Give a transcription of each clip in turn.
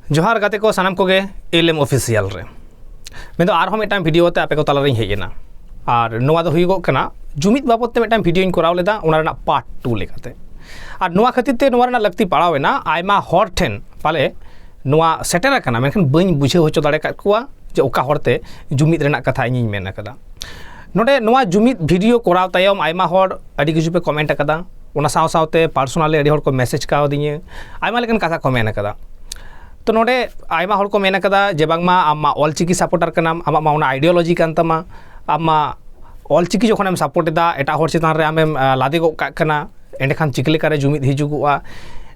ᱡᱚᱦᱟᱨ ᱜᱟᱛᱮ ᱠᱚ ᱥᱟᱱᱟᱢ ᱠᱚᱜᱮ ᱮᱞ ᱮᱢ ᱚᱯᱷᱤᱥᱤᱭᱟᱞ ᱨᱮ ᱢᱮᱱᱫᱚ ᱟᱨᱦᱚᱸ ᱢᱤᱫᱴᱟᱝ ᱵᱷᱤᱰᱤᱭᱳ ᱛᱮ ᱟᱯᱮ ᱠᱚ ᱛᱟᱞᱟᱨᱤᱧ ᱦᱮᱡ ᱮᱱᱟ ᱟᱨ ᱱᱚᱣᱟ ᱫᱚ ᱦᱩᱭᱩᱜᱚᱜ ᱠᱟᱱᱟ ᱡᱩᱢᱤᱫ ᱵᱟᱵᱚᱛ ᱛᱮ ᱢᱤᱫᱴᱟᱝ ᱵᱷᱤᱰᱤᱭᱳᱧ ᱠᱚᱨᱟᱣ ᱞᱮᱫᱟ ᱚᱱᱟ ᱨᱮᱱᱟᱜ ᱯᱟᱨᱴ ᱴᱩ ᱞᱮᱠᱟᱛᱮ ᱟᱨ ᱱᱚᱣᱟ ᱠᱷᱟᱹᱛᱤᱨ ᱛᱮ ᱱᱚᱣᱟ ᱨᱮᱱᱟᱜ ᱞᱟᱹᱠᱛᱤ ᱯᱟᱲᱟᱣ ᱮᱱᱟ ᱟᱭᱢᱟ ᱦᱚᱲ ᱴᱷᱮᱱ ᱯᱟᱞᱮ ᱱᱚᱣᱟ ᱥᱮᱴᱮᱨ ᱟᱠᱟᱱᱟ ᱢᱮᱱᱠᱷᱟᱱ ᱵᱟᱹᱧ ᱵᱩᱡᱷᱟᱹᱣ ᱦᱚᱪᱚ ᱫᱟᱲᱮ ᱠᱟᱜ ᱠᱚᱣᱟ ᱡᱮ ᱚᱠᱟ ᱦᱚᱲᱛᱮ ᱡᱩᱢᱤᱫ ᱨᱮᱱᱟᱜ ᱠᱟᱛᱷᱟ ᱤᱧᱤᱧ ᱢᱮᱱ ᱟᱠᱟᱫᱟ ᱱᱚᱰᱮ ᱱᱚᱣᱟ ᱡᱩᱢᱤᱫ ᱵᱷᱤᱰᱤᱭᱳ ᱠᱚᱨᱟᱣ ᱛᱟᱭᱚᱢ ᱟᱭᱢᱟ ᱦᱚᱲ ᱟᱹᱰᱤ ᱠᱤᱪᱷᱩ ᱯᱮ ᱠᱚᱢᱮᱱᱴ ᱟᱠᱟᱫᱟ ᱚᱱᱟ ᱥᱟᱶ ᱥᱟᱶᱛᱮ ᱯᱟᱨᱥᱚᱱᱟᱞᱤ ᱟᱹᱰᱤ ᱦᱚᱲ ᱠᱚ ᱢᱮᱥᱮᱡᱽ ᱠᱟᱣᱫᱤᱧᱟᱹ ᱟᱭᱢᱟ ᱞᱮᱠᱟᱱ ᱠᱟᱛᱷᱟ ᱠᱚ ᱢᱮᱱ ᱠᱟᱫᱟ ᱛᱚ ᱱᱚᱰᱮ ᱟᱭᱢᱟ ᱦᱚᱲ ᱠᱚ ᱢᱮᱱ ᱠᱟᱫᱟ ᱡᱮ ᱵᱟᱝᱢᱟ ᱟᱢ ᱢᱟ ᱚᱞ ᱪᱤᱠᱤ ᱥᱟᱯᱚᱴᱟᱨ ᱠᱟᱱᱟᱢ ᱟᱢᱟᱜ ᱢᱟ ᱚᱱᱟ ᱟᱭᱰᱤᱭᱳᱞᱚᱡᱤ ᱠᱟᱱ ᱛᱟᱢᱟ ᱟᱢ ᱢᱟ ᱚᱞ ᱪᱤᱠᱤ ᱡᱚᱠᱷᱚᱱᱮᱢ ᱥᱟᱯᱚᱴ ᱮᱫᱟ ᱮᱴᱟᱜ ᱦᱚᱲ ᱪᱮᱛᱟᱱ ᱨᱮ ᱟᱢᱮᱢ ᱞᱟᱫᱮ ᱜᱚᱫ ᱠᱟᱜ ᱠᱟᱱᱟ ᱮᱸᱰᱮᱠᱷᱟᱱ ᱪᱤᱠᱟᱹ ᱞᱮᱠᱟᱨᱮ ᱡᱩᱢᱤᱫ ᱦᱤᱡᱩᱜᱚᱜᱼᱟ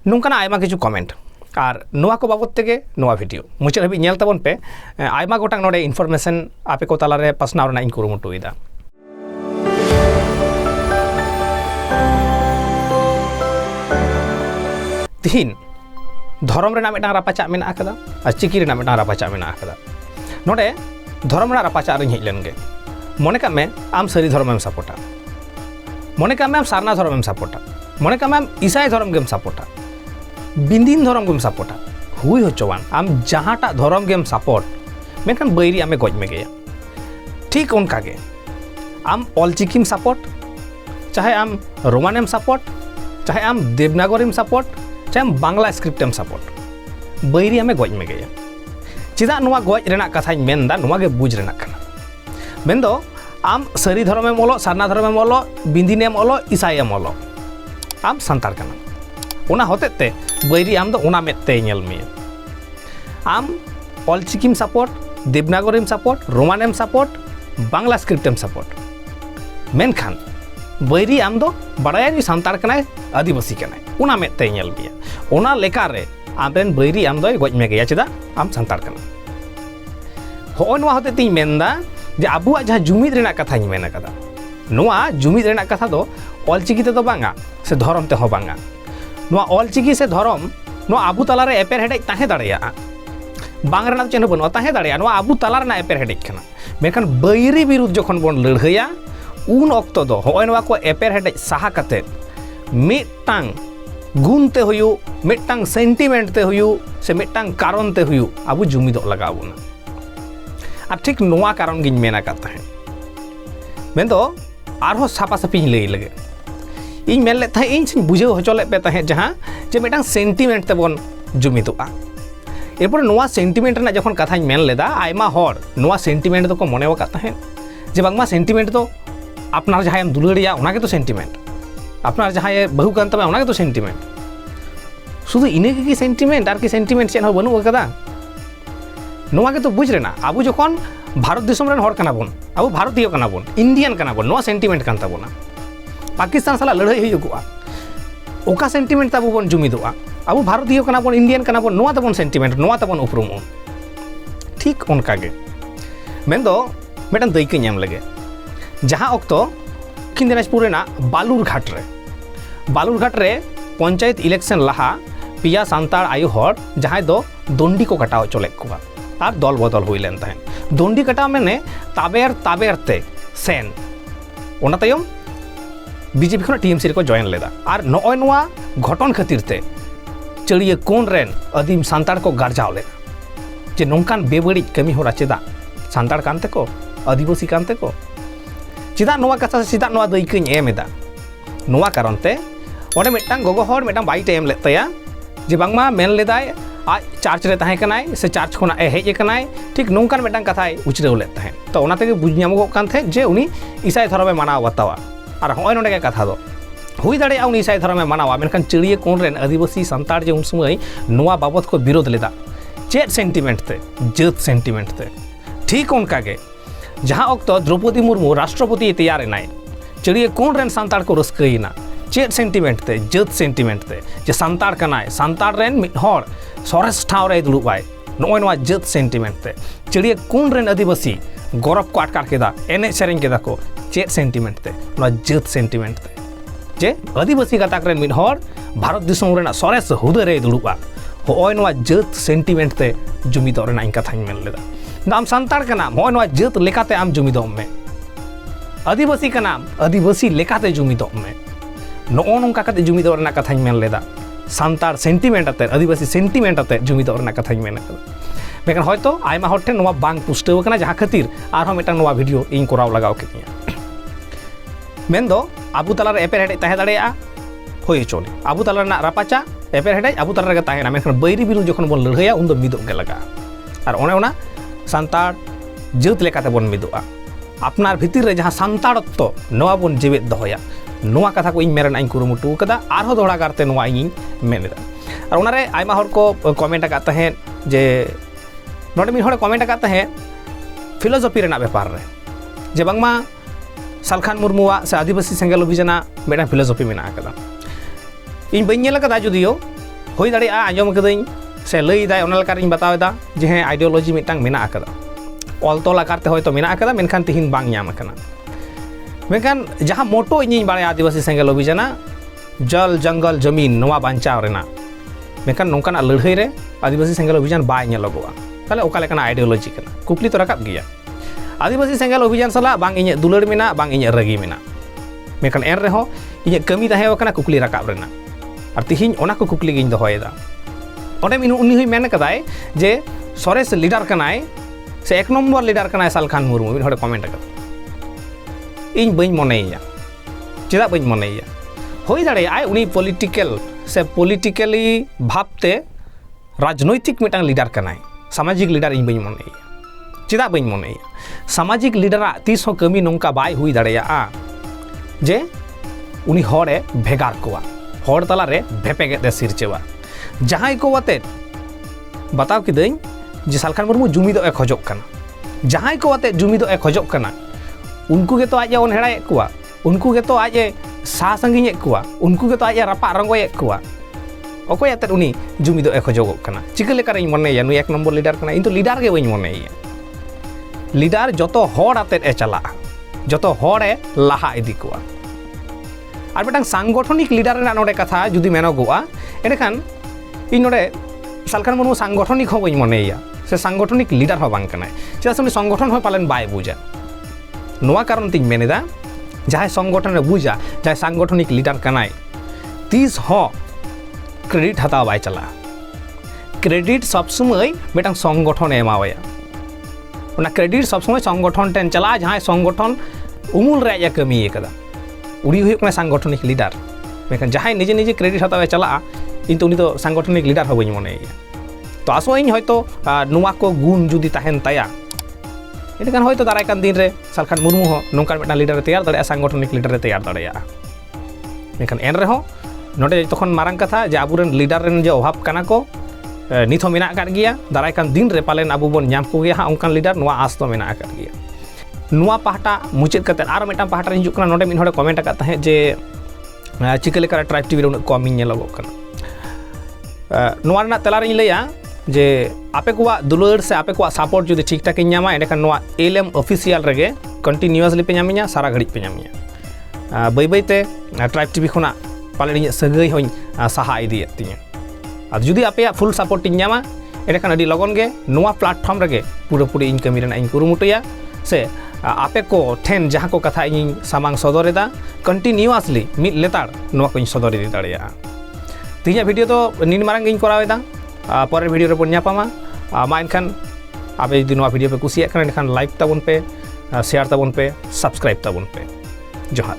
ᱱᱚᱝᱠᱟᱱᱟᱜ ᱟᱭᱢᱟ ᱠᱤᱪᱷᱩ ᱠᱚᱢᱮᱱᱴ ᱟᱨ ᱱᱚᱣᱟ ᱠᱚ ᱵᱟᱵᱚᱫ ᱛᱮᱜᱮ ᱱᱚᱣᱟ ᱵᱷᱤᱰᱤᱭᱳ ᱢᱩᱪᱟᱹᱫ ᱦᱟᱹᱵᱤᱡ ᱧᱮᱞ ᱛᱟᱵᱚᱱ ᱯᱮ ᱟᱭᱢᱟ ᱜᱚᱴᱟᱝ ᱱᱚᱰᱮ ᱤᱱᱯᱷᱚᱨᱢᱮᱥᱚᱱ ᱟᱯᱮ ᱠᱚ ᱛᱟᱞᱟᱨᱮ ᱯᱟᱥᱱᱟᱣ ᱨᱮᱱᱟᱜ ᱤᱧ ᱠᱩᱨᱩᱢᱩᱴᱩᱭᱮᱫᱟ ᱛᱤᱦᱤᱧ ᱫᱷᱚᱨᱚᱢ ᱨᱮᱱᱟᱜ ᱢᱤᱫᱴᱟᱝ ᱨᱟᱯᱟᱪᱟᱜ ᱢᱮᱱᱟᱜ ᱟᱠᱟᱫᱟ ᱟᱨ ᱪᱤᱠᱤ ᱨᱮᱱᱟᱜ ᱢᱤᱫᱴᱟᱝ ᱨᱟᱯᱟᱪᱟᱜ ᱢᱮᱱᱟᱜ ᱟᱠᱟᱫᱟ ᱱᱚᱰᱮ ᱫᱷᱚᱨᱚᱢ ᱨᱮᱱᱟᱜ ᱨᱟᱯᱟᱪᱟᱜ ᱨᱤᱧ ᱦᱮᱡ ᱞᱮᱱ ᱜᱮ ᱢᱚᱱᱮ ᱠᱟᱜ ᱢᱮ ᱟᱢ ᱥᱟᱹᱨᱤ ᱫᱷᱚᱨᱚᱢᱮᱢ ᱥᱟᱯᱚᱴᱟ ᱢᱚᱱᱮ ᱠᱟᱜ ᱢᱮ ᱟᱢ ᱥᱟᱨᱱᱟ ᱫᱷᱚᱨᱚᱢᱮᱢ ᱥᱟᱯᱚᱴᱟ ᱢᱚᱱᱮ ᱠᱟᱜ ᱢᱮ ᱟᱢ ᱤᱥᱟᱭ ᱫᱷᱚᱨᱚᱢ ᱜᱮᱢ ᱥᱟᱯᱚᱴᱟ ᱵᱤᱱᱫᱤᱱ ᱫᱷᱚᱨᱚᱢ ᱜᱮᱢ ᱥᱟᱯᱚᱴᱟ ᱦᱩᱭ ᱦᱚᱪᱚᱣᱟᱱ ᱟᱢ ᱡᱟᱦᱟᱸᱴᱟᱜ ᱫᱷᱚᱨᱚᱢ ᱜᱮᱢ ᱥᱟᱯᱚᱴ ᱢᱮᱱᱠᱷᱟᱱ ᱵᱟᱹᱭᱨᱤ ᱟᱢᱮ ᱜᱚᱡ ᱢᱮᱜᱮᱭᱟ ᱴᱷᱤᱠ ᱚᱱᱠᱟ ᱜᱮ ᱟᱢ ᱚᱞᱪᱤᱠᱤᱢ ᱥᱟᱯᱳᱨᱴ ᱪᱟᱦᱮ ᱟᱢ ᱨᱳᱢᱟᱱᱮᱢ ᱥᱟᱯᱳᱨᱴ ᱪᱟᱦᱮ ᱟᱢ ᱫᱮᱵᱽᱱᱟᱜᱚᱨᱤᱢ ᱥᱟᱯᱳᱨᱴ ᱪᱟᱦᱮ ᱟᱢ ᱵᱟᱝᱞᱟ ᱥᱠᱨᱤᱯᱴᱮᱢ ᱥᱟᱯᱳᱨᱴ ᱵᱟᱹᱭᱨᱤ ᱟᱢᱮ ᱜᱚᱡ ᱢᱮᱜᱮᱭᱟ ᱪᱮᱫᱟᱜ ᱱᱚᱣᱟ ᱜᱚᱡ ᱨᱮᱱᱟᱜ ᱠᱟᱛᱷᱟᱧ ᱢᱮᱱᱫᱟ ᱱᱚᱣᱟ ᱜᱮ ᱵᱩᱡᱽ ᱨᱮᱱᱟᱜ ᱠᱟᱱᱟ ᱢᱮᱱᱫᱚ ᱟᱢ ᱥᱟᱹᱨᱤ ᱫᱷᱚᱨᱚᱢᱮᱢ ᱚᱞᱚᱜ ᱥᱟᱨᱱᱟ ᱫᱷᱚᱨᱚᱢᱮᱢ ᱚᱞᱚᱜ ᱵᱤᱱᱫᱤᱱᱮᱢ ᱚᱞᱚᱜ ᱤᱥᱟᱭᱮᱢ ᱚᱞᱚᱜ ᱟᱢ ᱥᱟᱱᱛᱟᱲ ᱠᱟᱱᱟᱢ ᱚᱱᱟ ᱦᱚᱛᱮᱡ ᱛᱮ ᱵᱟᱹᱭᱨᱤ ᱟᱢ ᱫᱚ ᱚᱱᱟ ᱢᱮᱫ ᱛᱮᱭ ᱧᱮᱞ ᱢᱮᱭᱟ ᱟᱢ ᱚᱞᱪᱤᱠᱤᱢ ᱥᱟᱯᱳᱨᱴ ᱫᱮᱵᱽᱱᱟᱜᱚᱨᱤᱢ ᱥᱟᱯᱳᱨᱴ ᱨᱳᱢᱟᱱᱮᱢ ᱥᱟᱯᱳᱨᱴ ᱵᱟᱝᱞᱟ ᱥᱠᱨᱤᱯᱴᱮᱢ ᱥᱟᱯᱳᱨᱴ ᱢᱮᱱᱠᱷᱟᱱ ᱵᱟᱹᱭᱨᱤ ᱟᱢ ᱫᱚ ᱵᱟᱲᱟᱭᱟ ᱱᱩᱭ ᱥᱟᱱᱛᱟᱲ ᱠᱟᱱᱟᱭ ᱟᱹᱫᱤᱵᱟᱹᱥᱤ ᱠᱟᱱᱟᱭ ᱚᱱᱟ ᱢᱮᱫ ᱛᱮᱭ ᱧᱮᱞ ᱢᱮᱭᱟ ᱚᱱᱟ ᱞᱮᱠᱟᱨᱮ ᱟᱢᱨᱮᱱ ᱵᱟᱹᱭᱨᱤ ᱟᱢ ᱫᱚᱭ ᱜᱚᱡ ᱢᱮᱜᱮᱭᱟ ᱪᱮᱫᱟᱜ ᱟᱢ ᱥᱟᱱᱛᱟᱲ ᱠᱟᱱᱟ ᱦᱚᱜᱼᱚᱭ ᱱᱚᱣᱟ ᱦᱚᱛᱮᱡ ᱛᱮᱧ ᱢᱮᱱᱫᱟ ᱡᱮ ᱟᱵᱚᱣᱟᱜ ᱡᱟᱦᱟᱸ ᱡᱩᱢᱤᱫ ᱨᱮᱱᱟᱜ ᱠᱟᱛᱷᱟᱧ ᱢᱮᱱ ᱟᱠᱟᱫᱟ ᱱᱚᱣᱟ ᱡᱩᱢᱤᱫ ᱨᱮᱱᱟᱜ ᱠᱟᱛᱷᱟ ᱫᱚ ᱚᱞᱪᱤᱠᱤ ᱛᱮᱫᱚ ᱵᱟᱝᱟ ᱥᱮ ᱫᱷᱚᱨᱚᱢ ᱛᱮᱦᱚᱸ ᱵᱟᱝᱟ ᱱᱚᱣᱟ ᱚᱞᱪᱤᱠᱤ ᱥᱮ ᱫᱷᱚᱨᱚᱢ ᱱᱚᱣᱟ ᱟᱵᱚ ᱛᱟᱞᱟᱨᱮ ᱮᱯᱮᱨᱦᱮᱰᱮᱡ ᱛᱟᱦᱮᱸ ᱫᱟᱲᱮᱭᱟᱜᱼᱟ ᱵᱟᱝ ᱨᱮᱱᱟᱜ ᱪᱮᱫ ᱦᱚᱸ ᱵᱟᱹᱱᱩᱜᱼᱟ ᱛᱟᱦᱮᱸ ᱫᱟᱲᱮᱭᱟᱜᱼᱟ ᱱᱚᱣᱟ ᱟᱵᱚ ᱛᱟᱞᱟ ᱨᱮᱱᱟᱜ ᱮᱯᱮᱨᱦᱮᱰᱮᱡ ᱠᱟᱱᱟ ᱢᱮᱱᱠᱷᱟᱱ ᱵᱟᱹᱭᱨᱤ ᱵᱤᱨᱩᱫᱽ ᱡᱚᱠᱷᱚᱱ ᱵᱚᱱ ᱞᱟᱹᱲᱦᱟᱹᱭᱟ ᱩᱱ ᱚᱠᱛᱚ ᱫᱚ ᱦᱚᱸᱜᱼᱚᱭ ᱱᱚᱣᱟ ᱠᱚ ᱮᱯᱮᱨᱦᱮᱰᱮᱡ ᱥᱟᱦᱟ ᱠᱟᱛᱮᱫ ᱢᱤᱫᱴᱟᱝ ᱜᱩᱱ ᱛᱮ ᱦᱩᱭᱩᱜ ᱢᱤᱫᱴᱟᱝ ᱥᱮᱱᱴᱤᱢᱮᱱᱴ ᱛᱮ ᱦᱩᱭᱩᱜ ᱥᱮ ᱢᱤᱫᱴᱟᱝ ᱠᱟᱨᱚᱱ ᱛᱮ ᱦᱩᱭᱩᱜ ᱟᱵᱚ ᱡᱩᱢᱤᱫᱚᱜ ᱞᱟᱜᱟᱣ ᱵᱚᱱᱟ ᱟᱨ ᱴᱷᱤᱠ ᱱᱚᱣᱟ ᱠᱟᱨᱚᱱ ᱜᱤᱧ ᱢᱮᱱ ᱟᱠᱟᱫ ᱛᱟᱦᱮᱸᱫ ᱢᱮᱱᱫᱚ ᱟᱨᱦᱚᱸ ᱥᱟᱯᱟ ᱥᱟᱯᱤᱧ ᱞᱟᱹᱭ ᱞᱟᱹᱜᱤᱫ ᱤᱧ ᱢᱮᱱ ᱞᱮᱫ ᱛᱟᱦᱮᱸᱫ ᱤᱧ ᱥᱮᱧ ᱵᱩᱡᱷᱟᱹᱣ ᱦᱚᱪᱚ ᱞᱮᱫ ᱯᱮ ᱛᱟᱦᱮᱸᱫ ᱡᱟᱦᱟᱸ ᱡᱮ ᱢᱤᱫᱴᱟᱝ ᱥᱮᱱᱴᱤᱢᱮᱱᱴ ᱛᱮᱵᱚᱱ ᱡᱩᱢᱤᱫᱚᱜᱼᱟ ᱮᱨᱯᱚᱨ ᱱᱚᱣᱟ ᱥᱮᱱᱴᱤᱢᱮᱱᱴ ᱨᱮᱱᱟᱜ ᱡᱚᱠᱷᱚᱱ ᱠᱟᱛᱷᱟᱧ ᱢᱮᱱ ᱞᱮᱫᱟ ᱟᱭᱢᱟ ᱦᱚᱲ ᱱᱚᱣᱟ ᱥᱮᱱᱴᱤᱢᱮᱱᱴ ᱫᱚᱠᱚ ᱢᱚᱱᱮ ᱟᱠᱟᱫ ᱛᱟᱦᱮᱸᱫ ᱡᱮ ᱵᱟᱝᱢᱟ ᱥᱮᱱᱴᱤᱢᱮᱱᱴ ᱫᱚ ᱟᱯᱱᱟᱨ ᱡᱟᱦᱟᱸᱭᱮᱢ ᱫᱩᱞᱟᱹᱲᱮᱭᱟ ᱚᱱᱟ ᱜᱮᱛᱚ ᱥᱮᱱᱴᱤᱢᱮᱱᱴ ᱟᱯᱱᱟᱨ ᱡᱟᱦᱟᱸᱭᱮ ᱵᱟᱹᱦᱩ ᱠᱟᱱ ᱛᱟᱢᱟ ᱚᱱᱟ ᱜᱮᱛᱚ ᱥᱮᱱᱴᱤᱢᱮᱱᱴ ᱥᱩᱫᱷᱩ ᱤᱱᱟᱹ ᱜᱮ ᱥᱮᱱᱴᱤᱢᱮᱱᱴ ᱟᱨᱠᱤ ᱥᱮᱱᱴᱤᱢᱮᱱᱴ ᱪᱮᱫ ᱦᱚᱸ ᱵᱟᱹᱱᱩᱜ ᱟᱠᱟᱫᱟ ᱱᱚᱣᱟ ᱜᱮᱛᱚ ᱵᱩᱡᱽ ᱨᱮᱱᱟᱜ ᱟᱵᱚ ᱡᱚᱠᱷᱚᱱ ᱵᱷᱟᱨᱚᱛ ᱫᱤᱥᱚᱢ ᱨᱮᱱ ᱦᱚᱲ ᱠᱟᱱᱟ ᱵᱚᱱ ᱟᱵᱚ ᱵᱷᱟᱨᱚᱛᱤᱭᱚ ᱠᱟᱱᱟ ᱵᱚᱱ ᱤᱱᱰᱤᱭᱟᱱ ᱠᱟᱱᱟ ᱵᱚᱱ ᱱᱚᱣᱟ ᱥᱮᱱᱴᱤᱢᱮᱱᱴ ᱠᱟᱱ ᱛᱟᱵᱚᱱᱟ ᱯᱟᱠᱤᱥᱛᱟᱱ ᱥᱟᱞᱟᱜ ᱞᱟᱹᱲᱦᱟᱹᱭ ᱦᱩᱭᱩᱜᱚᱜᱼᱟ ᱚᱠᱟ ᱥᱮᱱᱴᱤᱢᱮᱱᱴ ᱛᱟᱵᱚ ᱵᱚᱱ ᱡᱩᱢᱤᱫᱚᱜᱼᱟ ᱟᱵᱚ ᱵᱷᱟᱨᱚᱛᱤᱭᱚ ᱠᱟᱱᱟ ᱵᱚᱱ ᱤᱱᱰᱤᱭᱟᱱ ᱠᱟᱱᱟ ᱵᱚᱱ ᱱᱚᱣᱟ ᱛᱟᱵᱚᱱ ᱥᱮᱱᱴᱤᱢᱮᱱᱴ ᱱᱚᱣᱟ ᱛᱟᱵᱚᱱ ᱩᱯᱨᱩᱢᱚᱜᱼᱟ ᱴᱷᱤᱠ ᱚᱱᱠᱟ ᱜᱮ ᱢᱮᱱᱫᱚ ᱢᱤᱫᱴᱟᱝ ᱫᱟᱹᱭᱠᱟᱹᱧ ᱮᱢ ᱞᱮᱜᱮ ᱡᱟᱦᱟᱸ ᱚᱠᱛᱚ ᱫᱚᱠᱠᱷᱤᱱ ᱫᱤᱱᱟᱡᱽᱯᱩᱨ ᱨᱮᱱᱟᱜ ᱵᱟᱞᱩᱨᱜᱷᱟᱴ ᱨᱮ ᱵᱟᱞᱩᱨᱜᱷᱟᱴ ᱨᱮ ᱯᱚᱧᱪᱟᱭᱮᱛ ᱤᱞᱮᱠᱥᱚᱱ ᱞᱟᱦᱟ ᱯᱮᱭᱟ ᱥᱟᱱᱛᱟᱲ ᱟᱭᱳ ᱦᱚᱲ ᱡᱟᱦᱟᱸᱭ ᱫᱚ ᱫᱚᱱᱰᱤ ᱠᱚ ᱠᱟᱴᱟᱣ ᱦᱚᱪᱚ ᱞᱮᱫ ᱠᱚᱣᱟ ᱟᱨ ᱫᱚᱞ ᱵᱚᱫᱚᱞ ᱦᱩᱭ ᱞᱮᱱ ᱛᱟᱦᱮᱸᱫ ᱫᱚᱱᱰᱤ ᱠᱟᱴᱟᱣ ᱢᱮᱱᱮ ᱛᱟᱵᱮᱨ ᱛᱟᱵᱮᱨ ᱛᱮ ᱥᱮᱱ ᱚᱱᱟ ᱛᱟᱭᱚᱢ ᱵᱤᱡᱮᱯᱤ ᱠᱷᱚᱱᱟᱜ ᱴᱤᱮᱢᱥᱤ ᱨᱮᱠᱚ ᱡᱚᱭᱮᱱ ᱞᱮᱫᱟ ᱟᱨ ᱱᱚᱜᱼᱚᱭ ᱱᱚᱣᱟ ᱜᱷᱚᱴᱚᱱ ᱠᱷᱟᱹᱛᱤᱨ ᱛᱮ ᱪᱟᱹᱲᱤᱭᱟᱹ ᱠᱳᱱ ᱨᱮᱱ ᱟᱹᱫᱤᱢ ᱥᱟᱱᱛᱟᱲ ᱠᱚ ᱜᱟᱨᱡᱟᱣ ᱞᱮᱱᱟ ᱡᱮ ᱱᱚᱝᱠᱟᱱ ᱵᱮᱵᱟᱹᱲᱤᱡ ᱠᱟᱹᱢᱤ ᱦᱚᱨᱟ ᱪᱮᱫᱟᱜ ᱥᱟᱱᱛᱟᱲ ᱠᱟᱱ ᱛᱮᱠᱚ ᱟᱹᱫᱤᱵᱟᱹᱥᱤ ᱠᱟᱱ ᱛᱮᱠᱚ ᱪᱮᱫᱟᱜ ᱱᱚᱣᱟ ᱠᱟᱛᱷᱟ ᱪᱮᱫᱟᱜ ᱱᱚᱣᱟ ᱫᱟᱹᱭᱠᱟᱹᱧ ᱮᱢ ᱮᱫᱟ ᱱᱚᱣᱟ ᱠᱟᱨᱚᱱ ᱛᱮ ᱚᱸᱰᱮ ᱢᱤᱫᱴᱟᱝ ᱜᱚᱜᱚ ᱦᱚᱲ ᱢᱤᱫᱴᱟᱝ ᱵᱟᱭᱤᱴ ᱮᱢ ᱞᱮᱫ ᱛᱟᱭᱟ ᱡᱮ ᱵᱟᱝᱢᱟ ᱢᱮᱱ ᱞᱮᱫᱟᱭ ᱟᱡ ᱪᱟᱨᱪ ᱨᱮ ᱛᱟᱦᱮᱸ ᱠᱟᱱᱟᱭ ᱥᱮ ᱪᱟᱨᱪ ᱠᱷᱚᱱᱟᱜ ᱮ ᱦᱮᱡ ᱟᱠᱟᱱᱟᱭ ᱴᱷᱤᱠ ᱱᱚᱝᱠᱟᱱ ᱢᱤᱫᱴᱟᱝ ᱠᱟᱛᱷᱟᱭ ᱩᱪᱨᱟᱹᱣ ᱞᱮᱫ ᱛᱟᱦᱮᱸᱫ ᱛᱚ ᱚᱱᱟ ᱛᱮᱜᱮ ᱵᱩᱡᱽ ᱧᱟᱢᱚᱜᱚᱜ ᱠᱟᱱ ᱛᱟᱦᱮᱸᱫ ᱡᱮ ᱩᱱᱤ ᱤᱥᱟᱭ ᱫᱷᱚᱨᱚᱢᱮ ᱢᱟᱱᱟᱣ ᱵᱟᱛᱟᱣᱟ ᱟᱨ ᱦᱚᱸᱜᱼᱚᱭ ᱱᱚᱰᱮ ᱜᱮ ᱠᱟᱛᱷᱟ ᱫᱚ ᱦᱩᱭ ᱫᱟᱲᱮᱭᱟᱜᱼᱟ ᱩᱱᱤ ᱤᱥᱟᱭ ᱫᱷᱚᱨᱚᱢᱮ ᱢᱟᱱᱟᱣᱟ ᱢᱮᱱᱠᱷᱟᱱ ᱪᱟᱹᱲᱤᱭᱟᱹ ᱠᱚᱬ ᱨᱮᱱ ᱟᱹᱫᱤᱵᱟᱹᱥᱤ ᱥᱟᱱᱛᱟᱲ ᱡᱮ ᱩᱱ ᱥᱚᱢᱚᱭ ᱱᱚᱣᱟ ᱵᱟᱵᱚᱛ ᱠᱚ ᱵᱤᱨᱳᱫᱷ ᱞᱮᱫᱟ ᱪᱮᱫ ᱥᱮᱱᱴᱤᱢᱮᱱᱴ ᱛᱮ ᱡᱟᱹᱛ ᱥᱮᱱᱴᱤᱢᱮᱱᱴ ᱛᱮ ᱴᱷᱤᱠ ᱚᱱᱠᱟᱜᱮ ᱡᱟᱦᱟᱸ ᱚᱠᱛᱚ ᱫᱨᱚᱯᱚᱫᱤ ᱢᱩᱨᱢᱩ ᱨᱟᱥᱴᱨᱚᱯᱚᱛᱤ ᱛᱮᱭᱟᱨ ᱮᱱᱟᱭ ᱪᱟᱹᱲᱤᱭᱟᱹ ᱠᱚᱬ ᱨᱮᱱ ᱥᱟᱱᱛᱟᱲ ᱠᱚ ᱨᱟᱹᱥᱠᱟᱹᱭᱮᱱᱟ ᱪᱮᱫ ᱥᱮᱱᱴᱤᱢᱮᱱᱴ ᱛᱮ ᱡᱟᱹᱛ ᱥᱮᱱᱴᱤᱢᱮᱱᱴ ᱛᱮ ᱡᱮ ᱥᱟᱱᱛᱟᱲ ᱠᱟᱱᱟᱭ ᱥᱟᱱᱛᱟᱲ ᱨᱮᱱ ᱢᱤᱫ ᱦᱚᱲ ᱥᱚᱨᱮᱥ ᱴᱷᱟᱶ ᱨᱮᱭ ᱫᱩᱲᱩᱵᱟᱭ ᱱᱚᱜᱼᱚᱭ ᱱᱚᱣᱟ ᱡᱟᱹᱛ ᱥᱮᱱᱴᱤᱢᱮᱱᱴ ᱛᱮ ᱪᱟᱹᱲᱤᱭᱟᱹ ᱠᱚᱬ ᱨᱮᱱ ᱟᱹᱫᱤᱵᱟᱹᱥᱤ ᱜᱚᱨᱚᱵᱽ ᱠᱚ ᱟᱴᱠᱟᱨ ᱠᱮᱫᱟ ᱮᱱᱮᱡ ᱥᱮᱨᱮᱧ ᱠᱮᱫᱟ ᱠᱚ ᱪᱮᱫ ᱥᱮᱱᱴᱤᱢᱮᱱᱴ ᱛᱮ ᱱᱚᱣᱟ ᱡᱟᱹᱛ ᱥᱮᱱᱴᱤᱢᱮᱱᱴ ᱛᱮ ᱡᱮ ᱟᱹᱫᱤᱵᱟᱹᱥᱤ ᱜᱟᱛᱟᱠ ᱨᱮᱱ ᱢᱤᱫ ᱦᱚᱲ ᱵᱷᱟᱨᱚᱛ ᱫᱤᱥᱚᱢ ᱨᱮᱱᱟᱜ ᱥᱚᱨᱮᱥ ᱦᱩᱫᱟᱹ ᱨᱮᱭ ᱫᱩᱲᱩᱵᱼᱟ ᱦᱚᱜᱼᱚᱭ ᱱᱚᱣᱟ ᱡᱟᱹᱛ ᱥᱮᱱᱴᱤᱢᱮᱱᱴ ᱛᱮ ᱡᱩᱢᱤᱫᱚᱜ ᱨᱮᱱᱟᱜ ᱤᱧ ᱠᱟᱛᱷᱟᱧ ᱢᱮᱱ ᱞᱮᱫᱟ ᱟᱢ ᱥᱟᱱᱛᱟᱲ ᱠᱟᱱᱟᱢ ᱦᱚᱜᱼᱚᱭ ᱱᱚᱣᱟ ᱡᱟᱹᱛ ᱞᱮᱠᱟᱛᱮ ᱟᱢ ᱡᱩᱢᱤᱫᱚᱜ ᱢᱮ ᱟᱹᱫᱤᱵᱟᱹᱥᱤ ᱠᱟᱱᱟᱢ ᱟᱹᱫᱤᱵᱟᱹᱥᱤ ᱞᱮᱠᱟᱛᱮ ᱡᱩᱢᱤᱫᱚᱜ ᱢᱮ ᱱᱚᱜᱼᱚ ᱱᱚᱝᱠᱟ ᱠᱟᱛᱮ ᱡᱩᱢᱤᱫᱚᱜ ᱨᱮᱱᱟᱜ ᱠᱟᱛᱷᱟᱧ ᱢᱮᱱ ᱞᱮᱫᱟ ᱥᱟᱱᱛᱟᱲ ᱥᱮᱱᱴᱤᱢᱮᱱᱴ ᱟᱛᱮ ᱟᱹᱫᱤᱵᱟᱹᱥᱤ ᱥᱮᱱᱴᱤᱢᱮᱱᱴ ᱟᱛᱮ ᱡᱩᱢᱤᱫᱚᱜ ᱨᱮᱱᱟᱜ ᱠᱟᱛᱷᱟᱧ ᱢᱮᱱ ᱟᱠᱟᱫᱟ ᱢᱮᱱᱠᱷᱟᱱ ᱦᱚᱭᱛᱳ ᱟᱭᱢᱟ ᱦᱚᱲ ᱴᱷᱮᱱ ᱱᱚᱣᱟ ᱵᱟᱝ ᱯᱩᱥᱴᱟᱹᱣ ᱟᱠᱟᱱᱟ ᱡᱟᱦᱟᱸ ᱠᱷᱟᱹᱛᱤᱨ ᱟᱨᱦᱚᱸ ᱢᱤᱫᱴᱟᱝ ᱱᱚᱣᱟ ᱵᱷᱤᱰᱤᱭᱳ ᱤᱧ ᱠᱚᱨᱟᱣ ᱞᱟᱜᱟᱣ ᱠᱮᱫᱤᱧᱟ ᱢᱮᱱ ᱫᱚ ᱟᱵᱚ ᱛᱟᱞᱟ ᱨᱮ ᱮᱯᱮᱨ ᱦᱮᱰᱮᱡ ᱛᱟᱦᱮᱸ ᱫᱟᱲᱮᱭᱟᱜᱼᱟ ᱦᱩᱭ ᱦᱚᱪᱚ ᱞᱮ ᱟᱵᱚ ᱛᱟᱞᱟ ᱨᱮᱱᱟᱜ ᱨᱟᱯᱟᱪᱟ ᱮᱯᱮᱨ ᱦᱮᱰᱮᱡ ᱟᱵᱚ ᱛᱟᱞᱟ ᱨᱮᱜᱮ ᱛᱟᱦᱮᱱᱟ ᱢᱮᱱᱠᱷᱟᱱ ᱵᱟᱹᱭᱨᱤ ᱵᱤᱨᱩ ᱡᱚᱠᱷᱚᱱ ᱵᱚᱱ ᱞᱟᱹᱲᱦᱟᱹᱭᱟ ᱩᱱ ᱫᱚ ᱢᱤᱫᱚᱜ ᱜᱮ ᱞᱟᱜᱟᱜᱼᱟ ᱟᱨ ᱚᱱᱮ ᱚᱱᱟ ᱥᱟᱱᱛᱟᱲ ᱡᱟᱹᱛ ᱞᱮᱠᱟᱛᱮ ᱵᱚᱱ ᱢᱤᱫᱚᱜᱼᱟ ᱟᱯᱱᱟᱨ ᱵᱷᱤᱛᱤᱨ ᱨᱮ ᱡᱟᱦᱟᱸ ᱥᱟᱱᱛᱟᱲᱚᱛᱛᱚ ᱱᱚᱣᱟ ᱵᱚᱱ ᱡᱮᱣᱮᱫ ᱫᱚᱦᱚᱭᱟ ᱱᱚᱣᱟ ᱠᱟᱛᱷᱟ ᱠᱚ ᱤᱧ ᱢᱮᱱ ᱨᱮᱱᱟᱜ ᱤᱧ ᱠᱩᱨᱩᱢᱩᱴᱩ ᱟᱠᱟᱫᱟ ᱟᱨᱦᱚᱸ ᱫᱚᱦᱲᱟ ᱠᱟᱨᱛᱮ ᱱᱚᱣᱟ ᱤᱧᱤᱧ ᱢᱮᱱ ᱮᱫᱟ ᱟᱨ ᱚᱱᱟᱨᱮ ᱟᱭᱢᱟ ᱦᱚᱲ ᱠᱚ ᱠᱚᱢᱮᱱᱴ ᱟᱠᱟᱫ ᱛᱟᱦᱮᱸᱫ ᱡᱮ ᱱᱚᱰᱮ ᱢᱤᱫ ᱦᱚᱲᱮ ᱠᱚᱢᱮᱱᱴ ᱟᱠᱟᱫ ᱛᱟᱦᱮᱸᱫ ᱯᱷᱤᱞᱳᱡᱚᱯᱷᱤ ᱨᱮᱱᱟᱜ ᱵᱮᱯᱟᱨ ᱨᱮ ᱡᱮ ᱵᱟᱝᱢᱟ ᱥᱟᱞᱠᱷᱟᱱ ᱢᱩᱨᱢᱩᱣᱟᱜ ᱥᱮ ᱟᱹᱫᱤᱵᱟᱹᱥᱤ ᱥᱮᱸᱜᱮᱞ ᱚᱵᱷᱤᱡᱟᱱᱟᱜ ᱢᱤᱫᱴᱟᱝ ᱯᱷᱤᱞᱳᱥᱚᱯᱷᱤ ᱢᱮᱱᱟᱜ ᱟᱠᱟᱫᱟ ᱤᱧ ᱵᱟᱹᱧ ᱧᱮᱞ ᱟᱠᱟᱫᱟ ᱡᱩᱫᱤᱭᱳ ᱦᱩᱭ ᱫᱟᱲᱮᱭᱟᱜᱼᱟ ᱟᱸᱡᱚᱢ ᱟᱠᱟᱫᱟᱹᱧ ᱥᱮ ᱞᱟᱹᱭᱫᱟᱭ ᱚᱱᱟ ᱞᱮᱠᱟᱨᱤᱧ ᱵᱟᱛᱟᱣᱮᱫᱟ ᱡᱮ ᱦᱮᱸ ᱟᱭᱰᱤᱭᱳᱞᱚᱡᱤ ᱢᱤᱫᱴᱟᱝ ᱢᱮᱱᱟᱜ ᱟᱠᱟᱫᱟ ᱚᱞ ᱛᱚᱞ ᱟᱠᱟᱨ ᱛᱮ ᱦᱚᱭᱛᱳ ᱢᱮᱱᱟᱜ ᱟᱠᱟᱫᱟ ᱢᱮᱱᱠᱷᱟᱱ ᱛᱤᱦᱤᱧ ᱵᱟᱝ ᱧᱟᱢ ᱟᱠᱟᱱᱟ ᱢᱮᱱᱠᱷᱟᱱ ᱡᱟᱦᱟᱸ ᱢᱚᱴᱳ ᱤᱧᱤᱧ ᱵᱟᱲᱟᱭᱟ ᱟᱹᱫᱤᱵᱟᱹᱥᱤ ᱥᱮᱸᱜᱮᱞ ᱚᱵᱷᱤᱡᱟᱱᱟᱜ ᱡᱚᱞ ᱡᱚᱝᱜᱚᱞ ᱡᱚᱢᱤᱱ ᱱᱚᱣᱟ ᱵᱟᱧᱪᱟᱣ ᱨᱮᱱᱟᱜ ᱢᱮᱱᱠᱷᱟᱱ ᱱᱚᱝᱠᱟᱱᱟᱜ ᱞᱟᱹᱲᱦᱟᱹᱭ ᱨᱮ ᱟᱹᱫᱤᱵᱟᱹᱥᱤ ᱥᱮᱸᱜᱮᱞ ᱚᱵᱷᱤᱡᱟᱱ ᱵᱟᱭ ᱧᱮᱞᱚᱜᱚᱜᱼᱟ ᱛᱟᱦᱚᱞᱮ ᱚᱠᱟ ᱞᱮᱠᱟᱱᱟᱜ ᱟᱭᱰᱤᱭᱳᱞᱚᱡᱤ ᱠᱟᱱᱟ ᱠᱩᱠᱞᱤ ᱛᱚ ᱨᱟᱠᱟᱵ ᱜᱮᱭᱟ ᱟᱹᱫᱤᱵᱟᱹᱥᱤ ᱥᱮᱸᱜᱮᱞ ᱚᱵᱷᱤᱡᱟᱱ ᱥᱟᱞᱟᱜ ᱵᱟᱝ ᱤᱧᱟᱹᱜ ᱫᱩᱞᱟᱹᱲ ᱢᱮᱱᱟᱜ ᱵᱟᱝ ᱤᱧᱟᱹᱜ ᱨᱟᱹᱜᱤ ᱢᱮᱱᱟᱜ ᱢᱮᱱᱠᱷᱟᱱ ᱮᱱ ᱨᱮᱦᱚᱸ ᱤᱧᱟᱹᱜ ᱠᱟᱹᱢᱤ ᱛᱟᱦᱮᱸ ᱟᱠᱟᱱᱟ ᱠᱩᱠᱞᱤ ᱨᱟᱠᱟᱵ ᱨᱮᱱᱟᱜ ᱟᱨ ᱛᱤᱦᱤᱧ ᱚᱱᱟ ᱠᱚ ᱠᱩᱠᱞᱤ ᱜᱤᱧ ᱫᱚᱦᱚᱭᱮᱫᱟ ᱚᱸᱰᱮ ᱩᱱᱤ ᱦᱚᱸᱭ ᱢᱮᱱ ᱠᱟᱫᱟᱭ ᱡᱮ ᱥᱚᱨᱮᱥ ᱞᱤᱰᱟᱨ ᱠᱟᱱᱟᱭ ᱥᱮ ᱮᱠ ᱱᱚᱢᱵᱚᱨ ᱞᱤᱰᱟᱨ ᱠᱟᱱᱟᱭ ᱥᱟᱞᱠᱷᱟᱱ ᱢᱩᱨᱢᱩ ᱢᱤᱫ ᱦᱚᱲᱮ ᱠᱚᱢᱮᱱᱴ ᱟᱠᱟᱫᱟ ᱤᱧ ᱵᱟᱹᱧ ᱢᱚᱱᱮᱭᱮᱭᱟ ᱪᱮᱫᱟᱜ ᱵᱟᱹᱧ ᱢᱚᱱᱮᱭᱮᱭᱟ ᱦᱩᱭ ᱫᱟᱲᱮᱭᱟᱜᱼᱟᱭ ᱩᱱᱤ ᱯᱚᱞᱤᱴᱤᱠᱮᱞ ᱥᱮ ᱯᱚᱞᱤᱴᱤᱠᱮᱞᱤ ᱵᱷᱟᱵᱽᱛᱮ ᱨᱟᱡᱽᱱᱳᱭᱛᱤᱠ ᱢᱤᱫᱴᱟᱝ ᱞᱤᱰᱟᱨ ᱠᱟᱱᱟᱭ ᱥᱟᱢᱟᱡᱤᱠ ᱞᱤᱰᱟᱨ ᱤᱧ ᱵᱟᱹᱧ ᱢᱚᱱᱮᱭᱟ ᱪᱮᱫᱟᱜ ᱵᱟᱹᱧ ᱢᱚᱱᱮᱭᱟ ᱥᱟᱢᱟᱡᱤᱠ ᱞᱤᱰᱟᱨᱟᱜ ᱛᱤᱥ ᱦᱚᱸ ᱠᱟᱹᱢᱤ ᱱᱚᱝᱠᱟ ᱵᱟᱭ ᱦᱩᱭ ᱫᱟᱲᱮᱭᱟᱜᱼᱟ ᱡᱮ ᱩᱱᱤ ᱦᱚᱲᱮ ᱵᱷᱮᱜᱟᱨ ᱠᱚᱣᱟ ᱦᱚᱲ ᱛᱟᱞᱟᱨᱮ ᱵᱷᱮᱯᱮᱜᱮᱫ ᱮ ᱥᱤᱨᱡᱟᱹᱣᱟ ᱡᱟᱦᱟᱸᱭ ᱠᱚ ᱟᱛᱮᱫ ᱵᱟᱛᱟᱣ ᱠᱤᱫᱟᱹᱧ ᱡᱮ ᱥᱟᱞᱠᱷᱟᱱ ᱢᱩᱨᱢᱩ ᱡᱩᱢᱤᱫᱚᱜ ᱮ ᱠᱷᱚᱡᱚᱜ ᱠᱟᱱᱟ ᱡᱟᱦᱟᱸᱭ ᱠᱚ ᱟᱛᱮᱫ ᱡᱩᱢᱤᱫᱚᱜ ᱮ ᱠᱷᱚᱡᱚᱜ ᱠᱟᱱᱟ ᱩᱱᱠᱩ ᱜᱮᱛᱚ ᱟᱡ ᱮ ᱚᱱᱦᱮᱲᱟᱭᱮᱫ ᱠᱚᱣᱟ ᱩᱱᱠᱩ ᱜᱮᱛᱚ ᱟᱡ ᱮ ᱥᱟ ᱥᱟᱺᱜᱤᱧᱮᱫ ᱠᱚᱣᱟ ᱩᱱᱠᱩ ᱜᱮᱛᱚ ᱟᱡ ᱮ ᱨᱟᱯᱟᱜ ᱨᱚᱸᱜᱚᱭᱮᱫ ᱠᱚᱣᱟ ᱚᱠᱚᱭ ᱟᱛᱮᱫ ᱩᱱᱤ ᱡᱩᱢᱤᱫᱚᱜ ᱮ ᱠᱷᱚᱡᱚᱜᱚᱜ ᱠᱟᱱᱟ ᱪᱤᱠᱟᱹ ᱞᱮᱠᱟᱨᱤᱧ ᱢᱚᱱᱮᱭᱟ ᱱᱩᱭ ᱮᱠ ᱱᱚᱢᱵᱚᱨ ᱞᱤᱰᱟᱨ ᱠᱟᱱᱟ ᱤᱧ ᱫᱚ ᱞᱤᱰᱟᱨ ᱜᱮ ᱵᱟᱹᱧ ᱢᱚᱱᱮᱭᱟ ᱞᱤᱰᱟᱨ ᱡᱚᱛᱚ ᱦᱚᱲ ᱟᱛᱮᱫ ᱮ ᱪᱟᱞᱟᱜᱼᱟ ᱡᱚᱛᱚ ᱦᱚᱲ ᱮ ᱞᱟᱦᱟ ᱤᱫᱤ ᱠᱚᱣᱟ ᱟᱨ ᱢᱤᱫᱴᱟᱝ ᱥᱟᱝᱜᱚᱴᱷᱚᱱᱤᱠ ᱞᱤᱰᱟᱨ ᱨᱮᱱᱟᱜ ᱱᱚᱰᱮ ᱠᱟᱛᱷᱟ ᱡᱩᱫᱤ ᱢᱮᱱᱚᱜᱚᱜᱼᱟ ᱮᱸᱰᱮᱠᱷᱟᱱ ᱤᱧ ᱱᱚᱰᱮ ᱥᱟᱞᱠᱷᱟᱱ ᱢᱩᱨᱢᱩ ᱥᱟᱝᱜᱚᱴᱷᱚᱱᱤᱠ ᱦᱚᱸ ᱵᱟᱹᱧ ᱢᱚᱱᱮᱭᱟ ᱥᱮ ᱥᱟᱝᱜᱚᱴᱷᱚᱱᱤᱠ ᱞᱤᱰᱟᱨ ᱦᱚᱸ ᱵᱟᱝ ᱠᱟᱱᱟᱭ ᱪᱮᱫᱟᱜ ᱥᱮ ᱩᱱᱤ ᱥᱚᱝᱜᱚᱴᱷᱚᱱ ᱦᱚᱸ ᱯᱟᱞᱮᱱ ᱵᱟᱭ ᱵᱩᱡᱟ ᱱᱚᱣᱟ ᱠᱟᱨᱚᱱ ᱛᱤᱧ ᱢᱮᱱ ᱮᱫᱟ ᱡᱟᱦᱟᱸᱭ ᱥᱚᱝᱜᱚᱴᱷᱚᱱ ᱨᱮ ᱵᱩᱡᱟ ᱡᱟᱦᱟᱸᱭ ᱥᱟᱝᱜᱚᱴᱷᱚᱱᱤᱠ ᱞᱤᱰᱟᱨ ᱠᱟᱱᱟᱭ ᱛᱤᱥ ᱦᱚᱸ ᱠᱨᱮᱰᱤᱴ ᱦᱟᱛᱟᱣ ᱵᱟᱭ ᱪᱟᱞᱟᱜᱼᱟ ᱠᱨᱮᱰᱤᱴ ᱥᱚᱵ ᱥᱚᱢᱚᱭ ᱢᱤᱫᱴᱟᱝ ᱥᱚᱝᱜᱚᱴᱷᱚᱱ ᱮᱢᱟᱣᱟᱭᱟ ᱚᱱᱟ ᱠᱨᱮᱰᱤᱴ ᱥᱚᱵ ᱥᱚᱢᱚᱭ ᱥᱚᱝᱜᱚᱴᱷᱚᱱ ᱴᱷᱮᱱ ᱪᱟᱞᱟᱜᱼᱟ ᱡᱟᱦᱟᱸᱭ ᱥᱚᱝᱜᱚᱴᱷᱚᱱ ᱩᱢᱩᱞ ᱨᱮ ᱟᱡ ᱮ ᱠᱟᱹᱢᱤ ᱟᱠᱟᱫᱟ ᱩᱱᱤ ᱦᱩᱭᱩᱜ ᱠᱟᱱᱟ ᱥᱟᱝᱜᱚᱴᱷᱚᱱᱤᱠ ᱞᱤᱰᱟᱨ ᱢᱮᱱᱠᱷᱟᱱ ᱡᱟᱦᱟᱸᱭ ᱱᱤᱡᱮ ᱱᱤᱡᱮ ᱠᱨᱮᱰᱤᱴ ᱦᱟᱛᱟᱣ ᱮ ᱪᱟᱞᱟᱜᱼᱟ ᱤᱧ ᱛᱚ ᱩᱱᱤ ᱫᱚ ᱥᱟᱝᱜᱚᱴᱷᱚᱱᱤᱠ ᱞᱤᱰᱟᱨ ᱦᱚᱸ ᱵᱟᱹᱧ ᱢᱚᱱᱮᱭᱮᱭᱟ ᱛᱚ ᱟᱥᱚᱜ ᱟᱹᱧ ᱦᱚᱭᱛᱳ ᱱᱚᱣᱟ ᱠᱚ ᱜᱩᱱ ᱡᱩᱫᱤ ᱛᱟᱦᱮᱱ ᱛᱟᱭᱟ ᱮᱱᱠᱷᱟᱱ ᱦᱚᱭᱛᱳ ᱫᱟᱨᱟᱭ ᱠᱟᱱ ᱫᱤᱱ ᱨᱮ ᱥᱟᱞᱠᱷᱟᱱ ᱢᱩᱨᱢᱩ ᱦᱚᱸ ᱱᱚᱝᱠᱟᱱ ᱢᱤᱫᱴᱟᱝ ᱞᱤᱰᱟᱨᱮ ᱛᱮᱭᱟᱨ ᱫᱟᱲᱮᱭᱟᱜᱼᱟ ᱥᱟᱝᱜᱚᱴᱷᱚᱱᱤᱠ ᱞᱤᱰᱟᱨᱮ ᱛᱮᱭᱟᱨ ᱫᱟᱲᱮᱭᱟᱜᱼᱟ ᱢᱮᱱᱠᱷᱟᱱ ᱮᱱ ᱨᱮᱦᱚᱸ ᱱᱚᱰᱮ ᱡᱚᱛᱚ ᱠᱷᱚᱱ ᱢᱟᱨᱟᱝ ᱠᱟᱛᱷᱟ ᱡᱮ ᱟᱵᱚᱨᱮᱱ ᱞᱤᱰᱟᱨ ᱨᱮᱱ ᱡᱮ ᱚᱵᱷᱟᱵᱽ ᱠᱟᱱᱟ ᱠᱚ ᱱᱤᱛ ᱦᱚᱸ ᱢᱮᱱᱟᱜ ᱟᱠᱟᱫ ᱜᱮᱭᱟ ᱫᱟᱨᱟᱭ ᱠᱟᱱ ᱫᱤᱱ ᱨᱮ ᱯᱟᱞᱮᱱ ᱟᱵᱚ ᱵᱚᱱ ᱧᱟᱢ ᱠᱚᱜᱮᱭᱟ ᱦᱟᱸᱜ ᱚᱱᱠᱟᱱ ᱞᱤᱰᱟᱨ ᱱᱚᱣᱟ ᱟᱥ ᱫᱚ ᱢᱮᱱᱟᱜ ᱟᱠᱟᱫ ᱜᱮᱭᱟ ᱱᱚᱣᱟ ᱯᱟᱦᱴᱟ ᱢᱩᱪᱟᱹᱫ ᱠᱟᱛᱮ ᱟᱨ ᱢᱤᱫᱴᱟᱝ ᱯᱟᱦᱴᱟ ᱨᱮ ᱦᱤᱡᱩᱜ ᱠᱟᱱᱟ ᱱᱚᱰᱮ ᱢᱤᱫ ᱦᱚᱲᱮ ᱠᱚᱢᱮᱱᱴ ᱟᱠᱟᱫ ᱛᱟᱦᱮᱸᱫ ᱡᱮ ᱪᱤᱠᱟᱹ ᱞᱮᱠᱟᱨᱮ ᱴᱨᱟᱭᱤᱵᱽ ᱴᱤᱵᱷᱤ ᱨᱮ ᱩᱱᱟᱹᱜ ᱠᱚᱢᱤᱧ ᱧᱮᱞᱚᱜᱚᱜ ᱠᱟᱱᱟ ᱱᱚᱣᱟ ᱨᱮᱱᱟᱜ ᱛᱮᱞᱟᱨᱤᱧ ᱞᱟᱹᱭᱟ ᱡᱮ ᱟᱯᱮ ᱠᱚᱣᱟᱜ ᱫᱩᱞᱟᱹᱲ ᱥᱮ ᱟᱯᱮ ᱠᱚᱣᱟᱜ ᱥᱟᱯᱳᱨᱴ ᱡᱩᱫᱤ ᱴᱷᱤᱠ ᱴᱷᱟᱠ ᱤᱧ ᱧᱟᱢᱟ ᱮᱸᱰᱮᱠᱷᱟᱱ ᱱᱚᱣᱟ ᱮᱞ ᱮᱢ ᱚᱯᱷᱤᱥᱤᱭᱟᱞ ᱨᱮᱜᱮ ᱠᱚᱱᱴᱤᱱᱤᱭᱩᱥᱞᱤ ᱯᱮ ᱧᱟᱢᱤᱧᱟ ᱥᱟᱨᱟ ᱜᱷᱟᱹᱲᱤᱡ ᱯᱮ ᱧᱟᱢᱤᱧᱟ ᱵᱟᱹᱭ ᱵᱟᱹᱭᱛᱮ ᱴᱨᱟᱭᱤᱵ ᱴᱤᱵᱷᱤ ᱠᱷᱚᱱᱟᱜ ᱯᱟᱞᱮ ᱤᱧᱟᱹᱜ ᱥᱟᱹᱜᱟᱹᱭ ᱦᱚᱧ ᱥᱟᱦᱟ ᱤᱫᱤᱭᱮᱫ ᱛᱤᱧᱟᱹ ᱟᱨ ᱡᱩᱫᱤ ᱟᱯᱮᱭᱟᱜ ᱯᱷᱩᱞ ᱥᱟᱯᱳᱨᱴ ᱤᱧ ᱧᱟᱢᱟ ᱮᱸᱰᱮᱠᱷᱟᱱ ᱟᱹᱰᱤ ᱞᱚᱜᱚᱱ ᱜᱮ ᱱᱚᱣᱟ ᱯᱞᱟᱴᱯᱷᱚᱨᱢ ᱨᱮᱜᱮ ᱯᱩᱨᱟᱹᱯᱩᱨᱤ ᱤᱧ ᱠᱟᱹᱢᱤ ᱨᱮᱱᱟᱜ ᱤᱧ ᱠᱩᱨᱩᱢᱩᱴᱩᱭᱟ ᱥᱮ ᱟᱯᱮ ᱠᱚ ᱴᱷᱮᱱ ᱡᱟᱦᱟᱸ ᱠᱚ ᱠᱟᱛᱷᱟ ᱤᱧᱤᱧ ᱥᱟᱢᱟᱝ ᱥᱚᱫᱚᱨ ᱮᱫᱟ ᱠᱚᱱᱴᱤᱱᱤᱭᱩᱥᱞᱤ ᱢᱤᱫ ᱞᱮᱛᱟᱲ ᱱᱚᱣᱟ ᱠᱚᱧ ᱥᱚᱫᱚᱨ ᱤᱫᱤ ᱫᱟᱲᱮᱭᱟᱜᱼᱟ ᱛᱮᱦᱮᱧᱟᱜ ᱵᱷᱤᱰᱤᱭᱳ ᱫᱚ ᱱᱤᱱ ᱢᱟᱨᱟᱝ ᱜᱤᱧ ᱠᱚᱨᱟᱣ ᱮᱫᱟ ᱯᱚᱨᱮᱨ ᱵᱷᱤᱰᱤᱭᱳ ᱨᱮᱵᱚᱱ ᱧᱟᱯᱟᱢᱟ ᱢᱟ ᱮᱱᱠᱷᱟᱱ ᱟᱯᱮ ᱡᱩᱫᱤ ᱱᱚᱣᱟ ᱵᱷᱤᱰᱤᱭᱳ ᱯᱮ ᱠᱩᱥᱤᱭᱟᱜ ᱠᱟᱱᱟ ᱮᱱᱠᱷᱟᱱ ᱞᱟᱭᱤᱠ ᱛᱟᱵᱚᱱ ᱯᱮ ᱥᱮᱭᱟᱨ ᱛᱟᱵᱚᱱ ᱯᱮ ᱥᱟᱵᱥᱠᱨᱟᱭᱤᱵ ᱛᱟᱵᱚᱱ ᱯᱮ ᱡᱚᱦᱟᱨ